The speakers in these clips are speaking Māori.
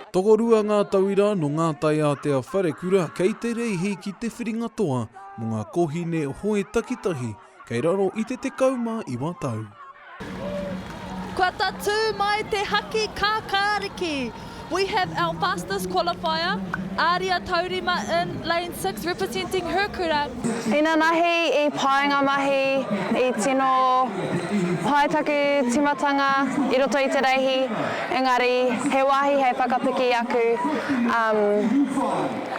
Tokorua ngā tauira nō ngā taiātea wharekura kei te reihi ki te whiringa toa mō ngā kōhine hoe takitahi kei raro i te 19 tau. Kua tatū mai te haki kākāriki! We have our fastest qualifier, Aria Taurima in Lane 17. Six representing her kura. Ina mahi i paenga mahi, i tino pai taku timatanga i roto i te reihi, engari he wahi hei whakapiki aku um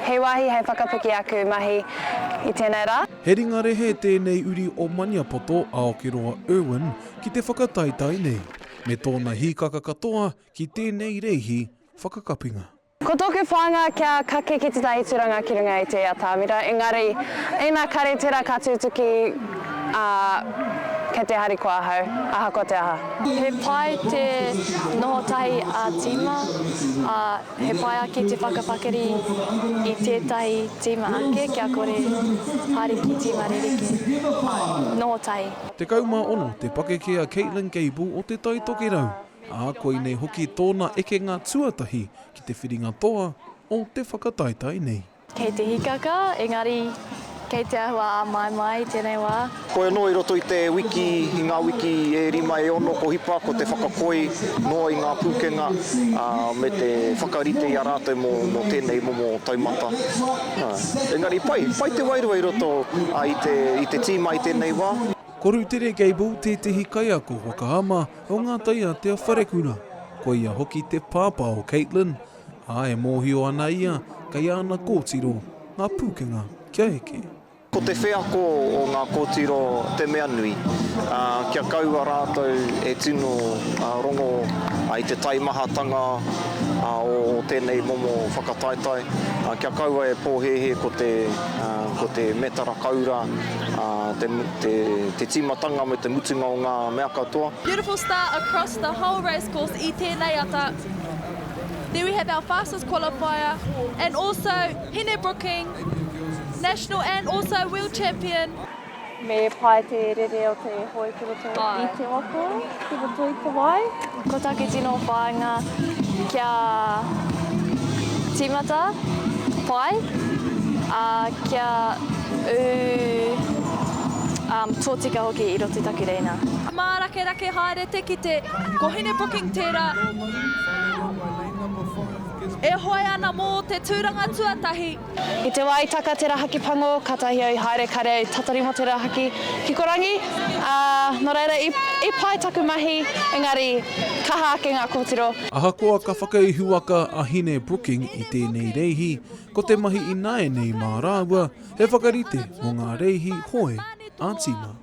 he wahi hei whakapiki aku mahi i tenei ra. He ringa rehe tēnei uri o Maniapoto a Okeroa Irwin ki te whakataetae nei, me tōna hīkaka katoa ki tēnei reihi whakakapinga. Ko tōku whāinga kia kake ki tētahi tūranga ki runga i te atamira, engari, ina kare tērā ka tūtuki, ā, kei te harikoa ahau, ahakoa te aha. He pai te noho tahi ā-tīma, ā, he pai ake te whakapakari i tētahi tīma ake kia kore Ariki tīma rerekē, ā, noho tahi. 16 te pakeke a Caitlin Gable o Te Tai Tokerau. ā, koinei hoki tōna ekenga tuatahi ki te whiringa toa o te whakataetae nei. Kei te hikaka, engari kei te āhua āmaimai i tēnei wā. Koi anō i roto i te wiki, i ngā wiki e rima, e ono ko hipa, ko te whakakoi noa i ngā pūkenga me te whakarite i a rātou mō tēnei momo taumata. Engari pai, pai te wairua i roto i te tīma i tēnei wā. Ko Rutere Gable tētehi kaiako whakaama Ko ngā taiate a Wharekura, ko ia hoki te pāpā o Caitlin, ā, e mōhio ana ia kei āna kōtiro ngā pūkenga kia eke. Ko te wheako o ngā kōtiro te mea nui, ā, kia kaua rātou e tino rongo i te taimahatanga o tēnei momo whakataetae, kia kaua e pōhēhē ko te metara koura. te tīmatanga me te mutunga o ngā mea katoa. Beautiful start across the whole racecourse i tēnei ata. There we have our fastest qualifier and also Hine Brooking, national and also world champion. Me pai te rere o te hoe ki roto i te waka. Ki roto i te wai. Ko taku tino whāinga kia tīmata pai, ā, kia ū tōtika hoki i roto i taku reina. Mārakerake haere te kite, ko Hine Booking tērā e hoe ana mō te tūranga tuatahi. I te wā i taka tērā haki pango, kātahi au i haere kāre au i tatari mō tērā haki kikorangi, ā, nō reira, i, i pai taku mahi, engari, kaha ake ngā kōtiro. Ahakoa ka whakaihuwaka a Hine Brooking i tēnei reihi, ko te mahi ināianei mā rāua he whakarite mō ngā reihi hoe ā-tīma.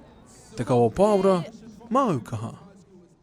Te Kawa Pāora, Māu Kaha.